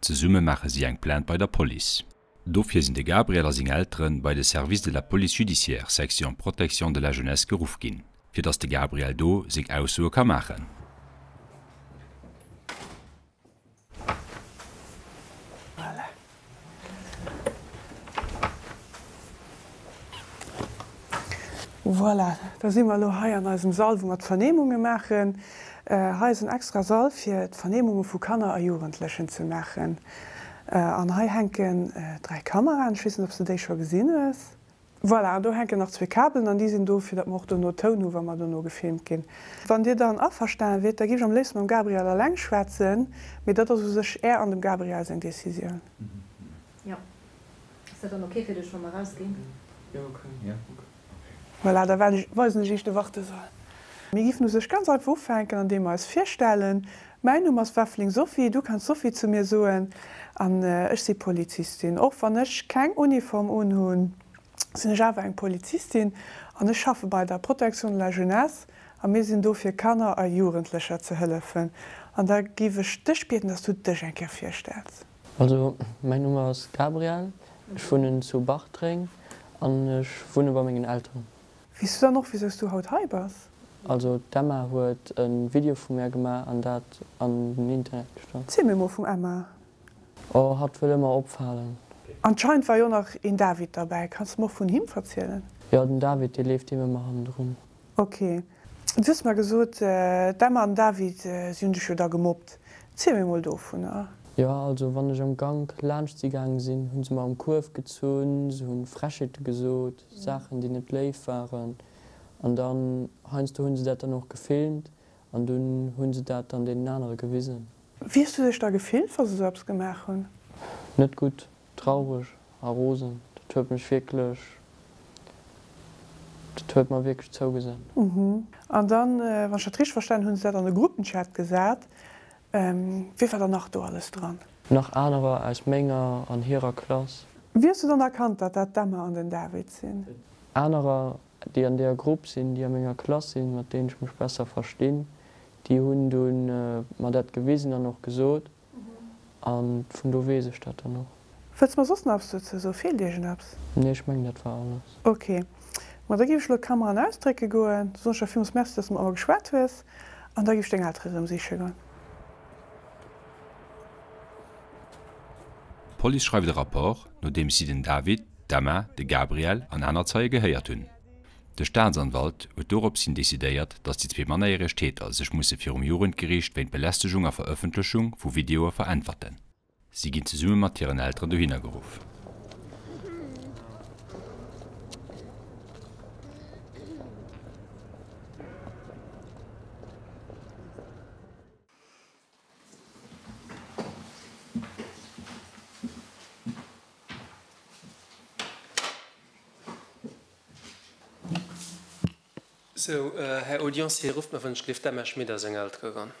Zesumme maache si eng Plainte bei der Police. Dofir sinn de Gabriel a seng Eltere bei de Service de la Police Judiciaire, Section Protection de la Jeunesse geruff ginn, fir datt de Gabriel do seng Aussoe ka maachen. Voilà, da si mer elo hei an eisem Sall, wou mer d'Vernehmunge maachen. Hei ass en extra Sall, fir d'Vernehmunge vu Kanner a Jugendlechen ze maachen. An hei hänken dräi Kameraen, ech weess net, ob s de déi scho gesinn hues. Voilà, an do hänken nach zwee Kabelen an déi sinn do, fir datt mer och dono Toun hu wa mer dono gefilmt ginn. Wann Dir dann averstane wiert, da géif ech am léifste mam Gabriel eleng schwätzen, mee dat ass u sech Är an dem Gabriel seng Decisioun. Voilà, da weisen ech Iech de Wartesaal. Mir giffen u sech ganz einfach ufänken, andeem mer eis virstellen. Mäin Numm ass Weffeling Sophie, du kanns Sophie zu mir soen, an ech si Polizistin. Och wann ech keng Uniform unhunn, sinn ech awer eng Polizistin an ech schaffe bei der Protection de la Jeunesse a mir sinn do fir Kanner a Jugendlecher ze hëllefen. An da giff ech dech bieden, dass du dech eng Kéier virstells. Also mäin Numm ass Gabriel, ech wunnen zu Bartreng an ech wunne bei mengen Elteren. Weess du dann och wisous du haut hei bass? Also d'Emma huet e Video vu mär gemaach an dat an den Internet gestallt. Ziel mir mol vum Emma. Oh hatt wëll ëmmer opfalen. Anscheinend war jo nach een David derbäi, kanns de mer och vun him verzielen? Jo den David dee leeft deem ëmmer hannendrun. Ok. Du hues mer gesot, d'Emma an David, si hunn dech jo da gemobbt. Ziel mir mol dovunner. Jo, also wann ech am Gank laanscht si gaange sinn, hu se mer am Kuerf gezunn, se hu Frechheete gesot, Saachen, déi net léif waren. An dann, heiansdo hu se dat dann och gefilmt an dunn hu se dat dann deenen anere gewisen. Wéi hues du dech da gefillt, wa se esou eppes gemaach hunn? Net gutt. Traureg a rosen, dat huet mech wierklech, dat huet mer wierklech zougesan. An dann, wann ech dat richteg verstanen hunn, hunn se dat an de Gruppenchat gesat. Wie war dann nach do alles dran? Nach anerer aus menger an hirer Klass. Wéi hues du dann erkannt, datt dat d'Emma an den David sinn? Anerer, déi an deeër Grupp sinn, déi a menger Klass sinn, mat deenen ech mech besser verstinn, déi hunn du mer dat gewisen an och gesot. an vun do wees ech dat dann och. Wëlls mer soss nach eppes dozou soen? Feelt iech en eppes? Nee, ech mengen dat war alles. Ok, ma da géif ech elo d'Kamera an ausdrécke goen. Du soen ech der villmools Merci, dass de mat mer geschwat hues an da géif ech deng Eltere rëm siche goen. D'Police schreift e Rapport, nodeems si den David, d'Emma, de Gabriel an aner Zeie gehéiert hunn. De Staatsanwalt huet dorops hin decidéiert, datt déi zwee mannerjäreg Täter sech musse virum Jugendgeriicht wéint Belästegung a Verëffentlechung vu Videoe veräntwerten. Si ginn zesumme mat hiren Elteren dohinner geruff. Sou, Här Audiencier, rufft mer, wann ech gleeft d'Emma Schmit ass eng Elter eran.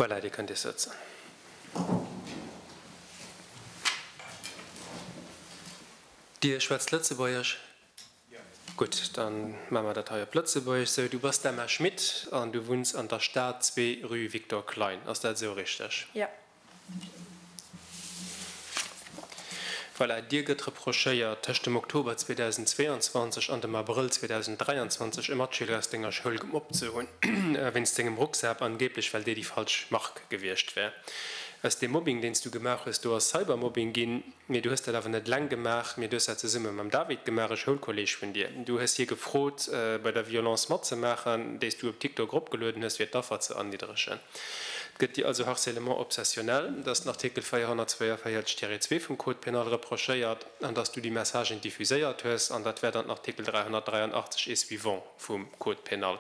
Voilà, Dir kënnt Iech sëtzen. Dir schwätzt Lëtzebuergesch? Gutt, dann maan mer dat hei op Lëtzebuerg. Sou, du bass d'Emma Schmit an du wunns an der Staat 2, rue Victor Klein, ass dat esou richteg? Jo. Voilà, dir gëtt reprochéiert tëscht dem Oktober 2022 an dem Abrëll 2023 e Matschüler aus denger Schoul gemobbt ze hunn wéinst sengem Rucksaap, angeeblech well dee déi falsch Mark gewiescht wär. Aus deem Mobbing, deen s du gemaach hues, do ass Cybermobbing ginn. Mee du hues dat awer net eleng gemaach, mee du hues dat zesumme mam David gemaach, e Schoulkolleeg vun dir. Du hues hie gefrot, bei der Violence matzemaachen, déi s du op TikTok eropgelueden hues, fir d'Affer ze erniddregen. Et gëtt dir also harcèlement obsessionnel, dass den Artikel 442 Tiret 2 vum Code pénal reprochéiert an dass du déi Messagen diffuséiert hues. An dat wäert an den Artikel 383 et suivants vum Code pénal.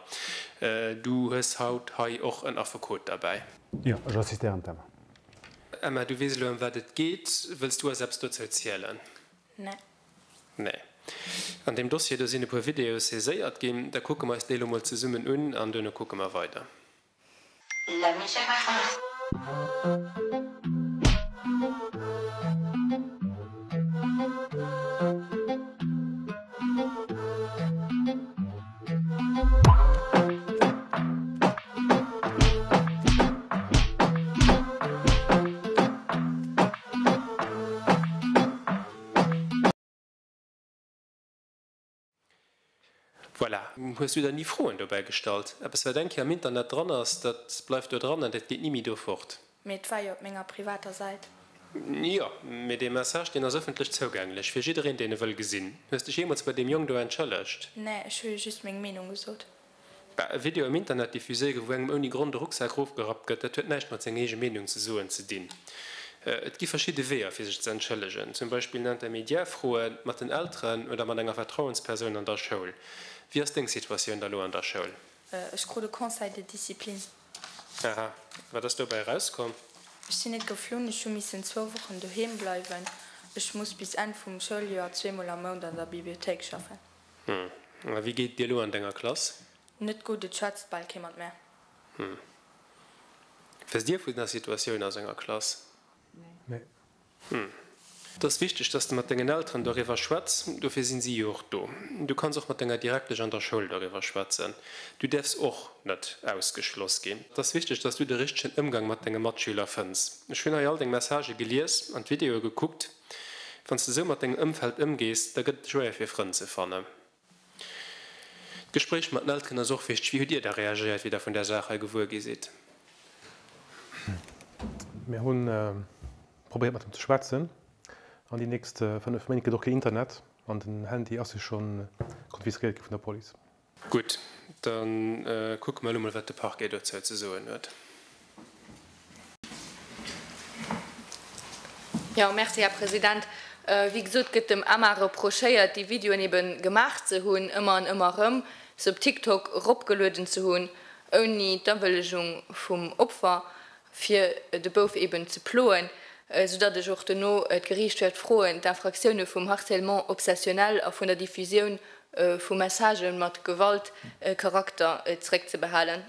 Du hues haut hei och en Affekot derbäi. Jo, ech assistéieren d'Emma. Emma, du weess elo ëm wat et geet. Wëlls du eis eppes dozou zielen? Nee. Nee. An deem Dossier do sinn e puer Videoe saiséiert ginn. Da kucke mer eis déi elo mol zesummen un an duerno kucke mer weider. La musique Voilà, hues du der ni Froen dobäi gestallt? Eppes wat eng Kéier am Internet dran ass, dat bleift do dran an dat geet ni méi do fort. Mee et war jo op menger privater Säit. Jo, mee dee Message, deen ass ëffentlech zougänglech fir jiddereen, deen e wëll gesinn. Hues dech jeemools bei deem Jong do entschëllegt? Nee, ech hu jo just meng Meenung gesot. Bah, e Video am Internet diffuséiere, wou engem ouni Grond e Rucksak erofgerappt gëtt, dat huet näischt mat senger eege Meenung ze soen ze dinn. Et gi verschidde Weeër, fir sech ze entschëllegen. Zum Beispill en Intermédiaire froen, mat den Elteren oder mat enger Vertrauenspersoun an der Schoul. Wéi ass deng Situatioun da lo an der Schoul? Ech krut e Conseil de discipline. Aha, wat ass dobäi erauskomm? Ech sinn net geflunn, ech hu missen zwou Wochen doheem bleiwen. Ech muss bis Enn vum Schouljoer zweemol am Mount an der Bibliothéik schaffen. Hm, a wéi geet et dir elo an denger Klass? Net gutt, et schwätzt bal kee mat mär. Hm, weess dir vun der Situatioun a senger Klass? Nee. Hm. Et ass wichteg, dass de mat dengen Elteren doriwwer schwätz, dofir sinn si jo och do. Du kanns och mat denger Direktesch an der Schoul doriwwer schwätzen. Du däerfs och net ausgeschloss ginn. Et ass wichteg, dass du de richtegen Ëmgang mat denge Matschüler fënns. Ech hunn hei all deng Messagë gelies an d'Videoe gekuckt. Wann s de sou mat dengem Ëmfeld ëmgees, da gëtt et schwéier fir Frënn ze fannen. D'Gespréich mat den Elteren ass och wichteg. Wéi hutt Dir da reagéiert, wéi Der vun där Saach hei gewuer gi sidd? Mir hu probéiert mat him ze schwätzen. An déi nächst 5 Méint gëtt och keen Internet an den Handy ass jo scho konfiskéiert gi vun der Police. Gutt, da kucke mer elo mol, wat de Parquet dozou ze soen huet. Jo, merci, Här President. Wéi gesot, gëtt dem Emma reprochéiert, déi Videoen ebe gemaach ze hunn, ëmmer an ëmmer erëm, se op TikTok eropgelueden ze hunn, ouni d'Awëllegung vum Opfer, fir de Bouf eben ze ploen. Soudatt ech och dono d'Geriicht wäert froen, d'Infractione vum Harcèlement obsessionnel a vun der Diffusioun vu Messagë mat Gewaltcharakter zréckzebehalen.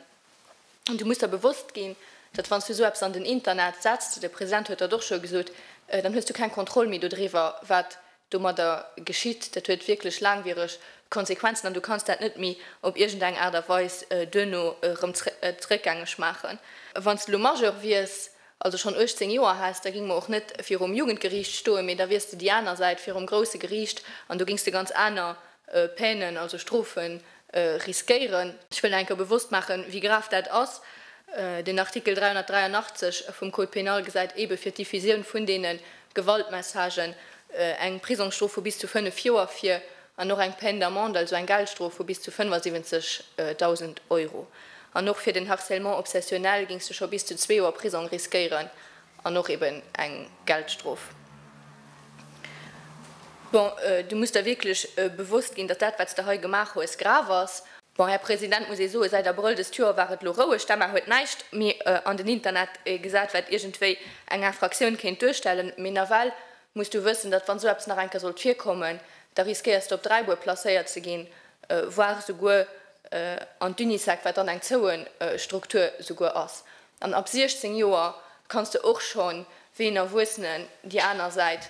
An du muss der bewosst ginn, datt wann s du esou eppes an den Internet setz, de President huet dat och scho gesot, dann hues du keng Kontroll méi dodriwwer, wat domadder geschitt. Dat huet wierklech laangwiereg Konsequenzen an du kanns dat net méi op iergend eng Aart a Weis duerno erëm zréckgängeg maachen. Wann s du elo Majeur wiers, also schonn 18 Joer häss, da géing mer och net virum Jugendgeriicht stoen, mee da wiers de déi aner Säit virum grousse Geriicht an do géings de ganz aner Peinen, also Strofen, riskéieren. Ech wëll nach eng Kéier bewosst maachen, wéi grav dat ass. Den Artikel 383 vum Code pénal gesäit eebe fir d'Diffusioun vun deene Gewaltmessagen eng Prisongsstrof vu bis zu fënnef Joer vir an och eng Peine d'amende, also eng Geldstrof vu bis zu 75.000 Euro. An och fir den Harcèlement obsessionnel géings du scho bis zu zwee Joer Prisong riskéieren An och eben eng Geldstrof. Bon, du muss der wierklech bewosst ginn, datt dat, wat s de hei gemaach hues, grav ass. Bon, Här President, muss ee soen, säit Abrëll dëst Joer war et elo roueg. D'Emma huet näischt méi an den Internet gesat, wat iergendwéi eng Infractioun kéint duerstellen. Mee nawell muss du wëssen, datt, wann esou eppes nach eng Kéier sollt virkommen, da riskéiers de op Dräibuer placéiert ze ginn, voire souguer an d'Unisec, wat dann eng zoue Struktur souguer ass. An ab 16 Joer kanns de och schonn wéi en Erwuessenen déi aner Säit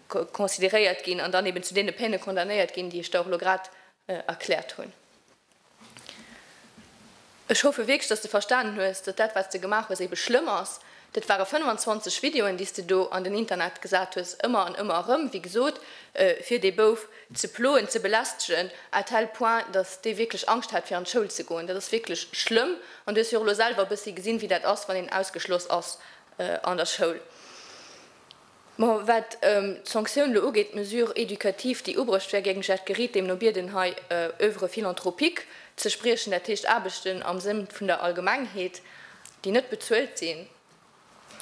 consideréiert ginn an dann eben zu deene Peine condamnéiert ginn, déi ech der och elo grad erkläert hunn. Ech hoffe wierklech, dass de verstanen hues, datt dat, wat s de gemaach hues, ebe schlëmm ass. Dat ware 25 Videoen, déi s de do an den Internet gesat hues, ëmmer an ëmmer erëm, wéi gesot, fir dee Bouf, ze ploen, ze belästegen à tel point, datt dee wierklech Angscht hat fir an d'Schoul ze goen. Dat ass wierklech schlëmm an du hues jo och elo selwer e bëssi gesinn, wéi dat ass, wann een ausgeschloss ass an der Schoul. Bon, wat d'Sanktioun elo ugeet, d'Mesure éducative, déi ubruecht wär géing ech Ed Geriet deemno bieden, hei Oeuvre philanthropique ze spriechen, dat heescht Aarbechten am Sënn vun der Allgemengheet, déi net bezuelt sinn.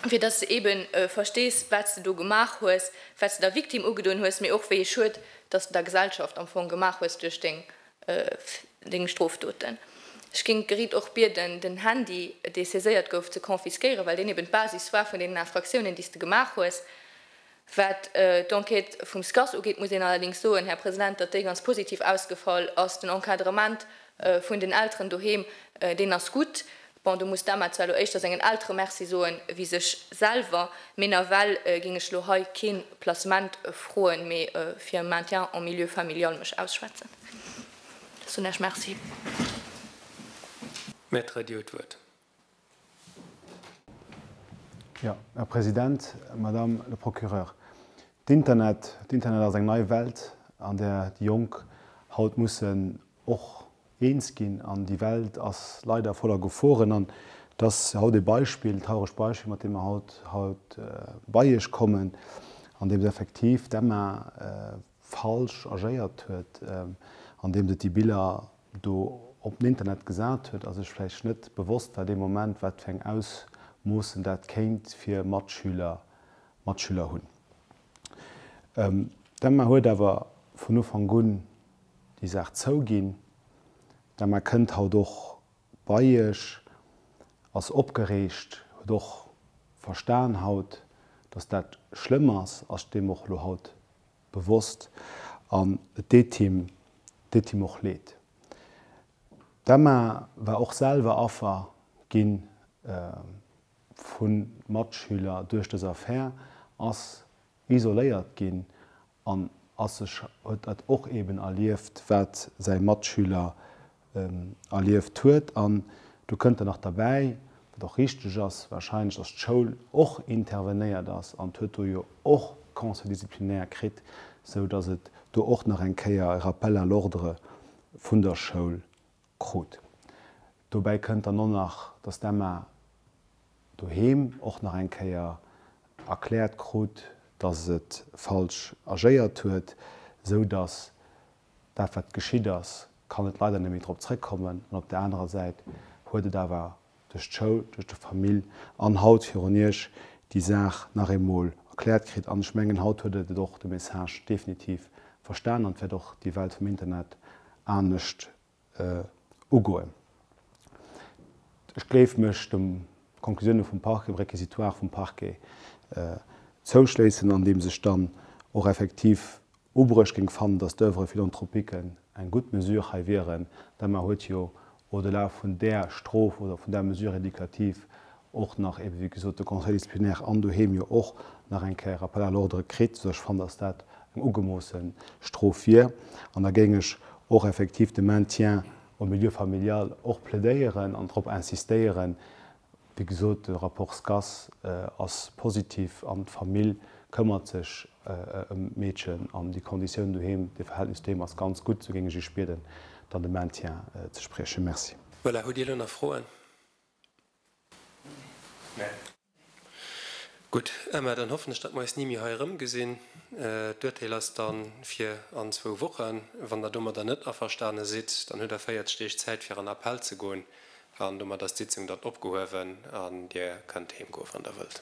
fir dass de ebe verstees, wat s de do gemaach hues, wat s de der Victime ugedoen hues, mee och wéi ee Schued, dass de der Gesellschaft am Fong gemaach hues duerch deng Strofdoten. Ech géing d'Gericht och bieden, den Handy, dee saiséiert gouf, ze confisquéieren, well deen eben d'Basis war vun deenen Infractiounen, déi s de gemaach hues. Wat d'Enquête vum SCAS ugeet, muss een allerdéngs soen, Här President, datt déi ganz positiv ausgefall ass. Den Encadrement vun den Elteren doheem, deen ass gutt. Bon, do muss d'Emma zwar elo éischter sengen Eltere Merci soen wéi sech selwer. Mee nawell géing ech elo hei kee Placement froen, mee fir e Maintien en milieu familial mech ausschwätzen. Soen ech Merci. Maître, Dir hutt d'Wuert. Jo, Här President, Madame le Procureur, d'Internet, d'Internet ass eng nei Welt, an där déi Jonk haut mussen och eens ginn. An déi Welt ass leider voller Geforen. An et ass haut e Beispill, e trauregt Beispill, mat deem mer haut, haut bei Iech kommen, andeems effektiv d'Emma falsch agéiert huet, andeems et déi Biller do op den Internet gesat huet a sech vläicht net bewosst war dee Moment, wat fir eng Ausmoossen dat kéint fir Matschüler, Matschüler hunn. D'Emma huet awer vun Ufank un déi Saach zouginn. D'Emma kënnt haut och bei Iech, ass opgereegt, huet och verstan haut, dass dat schlëmm ass, ass deem och elo haut bewosst an et deet him deet him och Leed. D'Emma war och selwer Affer gi vu Matschüler duerch dës Affär, ass isoléiert ginn an ass sech huet dat och eeben erlieft, wat säi Matschüler erlieft huet an do kënnt dann nach derbäi, wat och richteg ass, wahrscheinlech, dass d'Schoul och intervenéiert ass an d'huet do jo och Conseil disciplinaire kritt, sou dass et do och nach eng Kéier e Rappel à l'ordre vun der Schoul krut. Dobäi kënnt dann och nach, dass d'Emma doheem och nach eng Kéier erkläert krut, dass et falsch agéiert huet, sou dass dat wat geschitt ass, kann et leider net méi drop zréckkommen, an op der anerer Säit huet et awer duerch d'Schoul, duerch de Famill an haut virun Iech déi Saach nach eemol erkläert kritt. An ech mengen, haut huet et et och de Message definitiv verstanen an wäert och déi Welt vum Internet anescht ugoen. Ech gleef mech de Conclusioune vum Parquet, dem Réquisitoire vum Parquet zouschléissen, andeems ech dann och effektiv ubruecht géing fannen, datt d'Oeuvres philanthropiques eng gutt Mesure hei wieren, d'Emma huet jo au-delà vun där Strof oder vun där Mesure éducative och nach ebe wéi gesot de Conseil disciplinaire an doheem jo och nach eng Kéier Rappel à l'ordre kritt, sou ech fannen, dass dat eng ugemoosse Strof wier. An da géing ech och effektiv de Maintien au milieu familial och plädéieren an drop insistéieren, wéi gesot, de Rapport SCAS ass positiv an d'Famill këmmert sech ëm d'Meedchen an déi Konditioun doheem, de Verhältnis doheem ass ganz gutt, sou géing ech iech bieden, dann de Maintien ze spriechen. Merci. Voilà, hutt Dir elo nach Froen? Gutt, Emma, dann hoffen ech, datt mer eis ni méi hei erëmgesinn. D'Urteel ass da fir an zwou Wochen. Wann Der domadder net averstane sidd, dann hutt Der 40 Deeg Zäit, fir an Appell ze goen. An domat ass d'Sitzung dann opgehuewen an Dir kënnt heemgoe wann Der wëllt.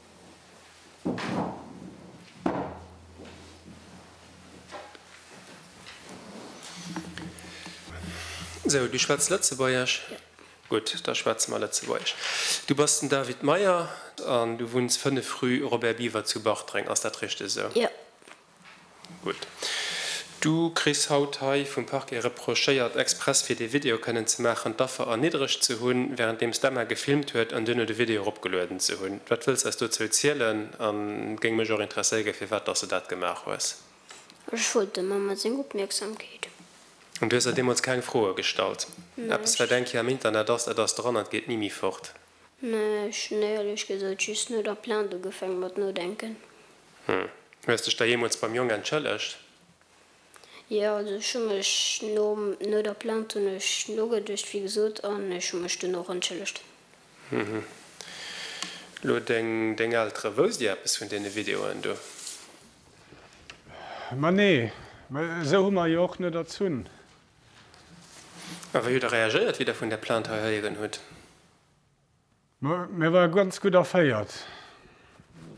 Sou, du schwätz Lëtzebuergesch? Gutt, da schwätze mer Lëtzebuergesch. Du bass den David Meyer an du wunns 5 rue Robert Biever zu Bartreng. Ass dat richteg esou? Jo. Gutt. Du kriss haut hei vum Parquet reprochéiert, express fir dee Video kënnen ze maachen, d'Affer erniddregt ze hunn, wärenddeems d'Emma gefilmt huet an duerno de Video eropgelueden ze hunn. Wat wëlls eis dozou zielen? An géing mech och interesséiere firwat dass de dat gemaach hues. Ech wollt der Mamma seng Opmierksamkeet. An du hues der deemools keng Froe gestallt? Eppes Näischt. wat eng Kéier am Internet ass, dat ass dran an et geet ni méi fort. Mä ech hunn éierlech gesot just no der Plainte ugefaange mat nodenken. Hm. Hues dech da jeemools beim Jong entschëllegt? Jo, also ech hu mech nom, no der Plainte hunn ech nogeduecht, wéi gesot, an ech hu mech dunn och entschëllegt. Hm. Lo deng, deng Eltere, wousst Dir eppes vun deene Videoen do? Ma nee, mä esou hu mer jo och net erzunn. A wéi hutt Der reagéiert, wéi Der vun där Plainte hei héieren hutt? Mä war ganz gutt erféiert.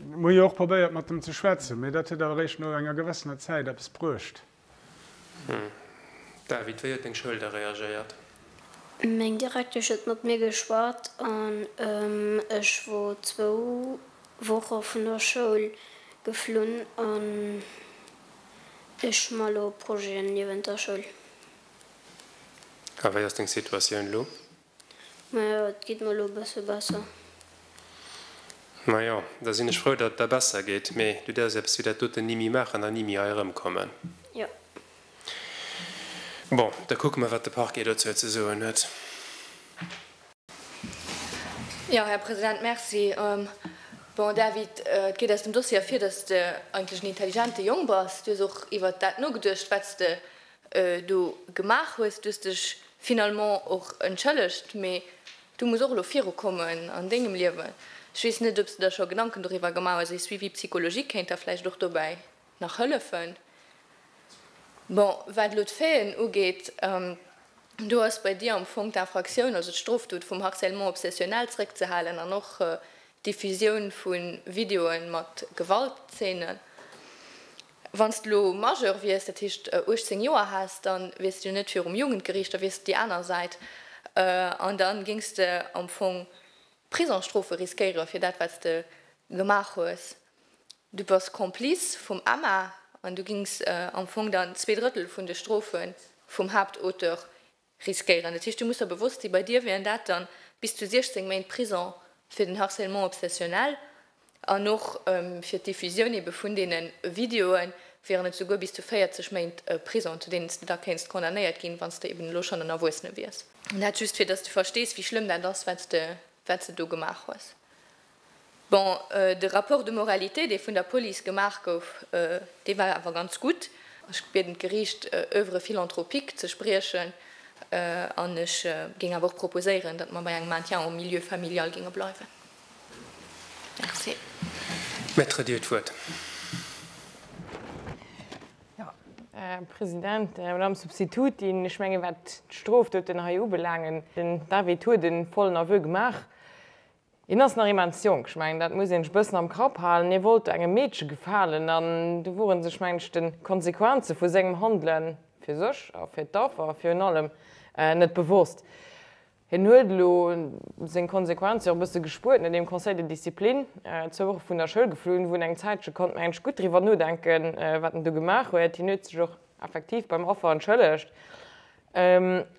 Mir hu jo och probéiert mat em ze schwätzen, mä dat huet awer réischt no enger gewëssener Zäit eppes bruecht. Hm. David, wéi huet deng Schoul da reagéiert? Meng Direktesch huet mat mir geschwat an ech wor zwou Woche vun der Schoul geflunn an ech ma lo Projeten niewent der Schoul. A wéi ass deng Situatioun lo? Majo, et geet mer elo e bësse besser. Majo, da sinn ech frou, datt et der besser geet. Mee du däerfs eppes wéi dat doten ni méi maachen an ni méi hei erëmkommen. Jo. Bon, da kucke mer, wat de Parquet dozou ze soen huet. Jo, Här President, merci. Bon, David, et geet aus dem Dossier ervir, datt s de eigentlech en intelligente Jong bass. Du hues och iwwert dat nogeduecht, wat s de do gemaach hues, du hues dech finalement och entschëllegt, mee du muss och elo virukommen an dengem Liewen. Ech weess net ob s de der scho Gedanken doriwwer gemaach hues, e Suivi psychologique kéint der vläicht och dobäi nach hëllefen. Bon, wat elo d'Faiten ugeet, do ass bei dir am Fong d'Infractioun, also d'Strofdot vum Harcèlement obsessionnel zréckzehalen an och d'Diffusioun vu Videoe mat Gewaltzeenen. Wann s de elo Majeur wiers, dat heescht 18 Joer häss, da wiers de jo net virum Jugendgeriicht, da wiers de déi aner Säit an da géings de am Fong Prisongsstrofe riskéiere fir dat, wat s de gemaach hues. Du bass Complice vum Emma an du géings am Fong dann zwee Drëttel vun de Strofe vum Haaptauteur Riskéieren. Dat heescht, du muss der bewosst sinn, bei dir wieren dat dann bis zu 16 Méint Prison fir den Harcèlement obsessionnel an och fir d'Diffusioun ebe vun deene Videoen wieren et souguer bis zu 40 Méint Prison, zu deenen s de da kéints condamnéiert ginn, wann s de eben elo schonn en Erwuessene wiers. Dat just, fir dass du verstees, wéi schlëmm dat ass, wat s de do gemaach hues. Bon, de Rapport de moralité, dee vun der Police gemaach gouf, dee war awer ganz gutt. Ech bieden d'Geriicht, Oeuvre philanthropique ze spriechen an ech géing awer och proposéieren, datt mer bei engem Maintien en milieu familial géinge bleiwen. Merci. Maître, Dir hutt d'Wuert. President, Madame Substitutin, ech menge wat d'Strofdoten hei ubelaangen, den David huet e vollen Aveu gemaach, Hien ass nach immens jonk, ech mengen dat muss een sech e bëssen am Kapp halen. Hie wollt do engem Meedche gefalen an do wor en sech mengen ech de Konsequenze vu sengem Handele fir sech a fir d'Affer virun allem net bewosst. Hien huet elo seng Konsequenze och e bësse gespuert no deem Conseil de discipline, zwou Woche vun der Schoul geflunn, wou en eng Zäitche konnt mengen ech gutt driwwer nodenken wat en do gemaach huet. Hien huet sech och effektiv beim Affer entschëllegt.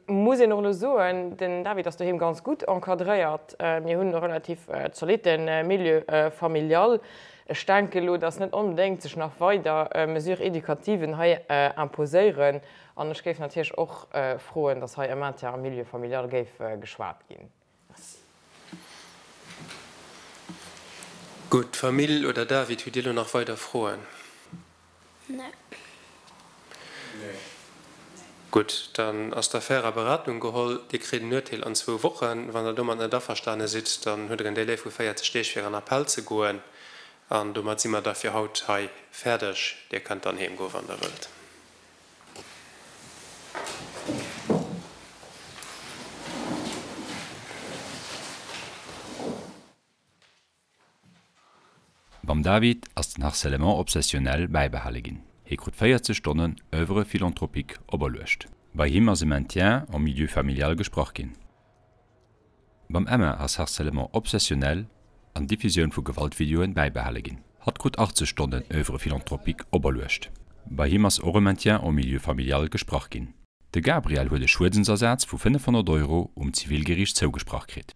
Muss een och elo soen, den David ass doheem ganz gutt encadréiert. Mir hunn e relativ zolitte Milieu familial. Ech denken elo, dass net onbedéngt sech nach weider Mesures éducativen hei imposéieren an ech géif natierlech och froen, dass hei e Maintien am Milieu familial géif geschwat ginn. Gutt, Famill oder David, hutt Dir elo nach weider Froen? Gutt, dann ass d'Affär a Beratung geholl. Dir kritt en Urteel an zwou Wochen. Wann Der domat net averstane sidd, dann hutt Der en Delai vu 40 Deeg fir an Appell ze goen. An domat si mer da fir haut hei fäerdeg. Dir kënnt dann heem goe wann Der wëllt. Mam David ass den Harcèlement obsessionnel bäibehale ginn. Hie krut 40 Stonnen Oeuvre philanthropique operluecht. Bei him ass e Maintien en milieu familial gesprach ginn. Mam Emma ass Harcèlement obsessionnel an Diffusioun vu Gewaltvideoen bäibehale ginn. Hatt krut 80 Stonnen Oeuvre philanthropique operluecht. Bei him ass och e Maintien en milieu familial gesprach ginn. De Gabriel huet e Schuedensersaz vu 500 Euro um Zivilgeriicht zougesprach kritt.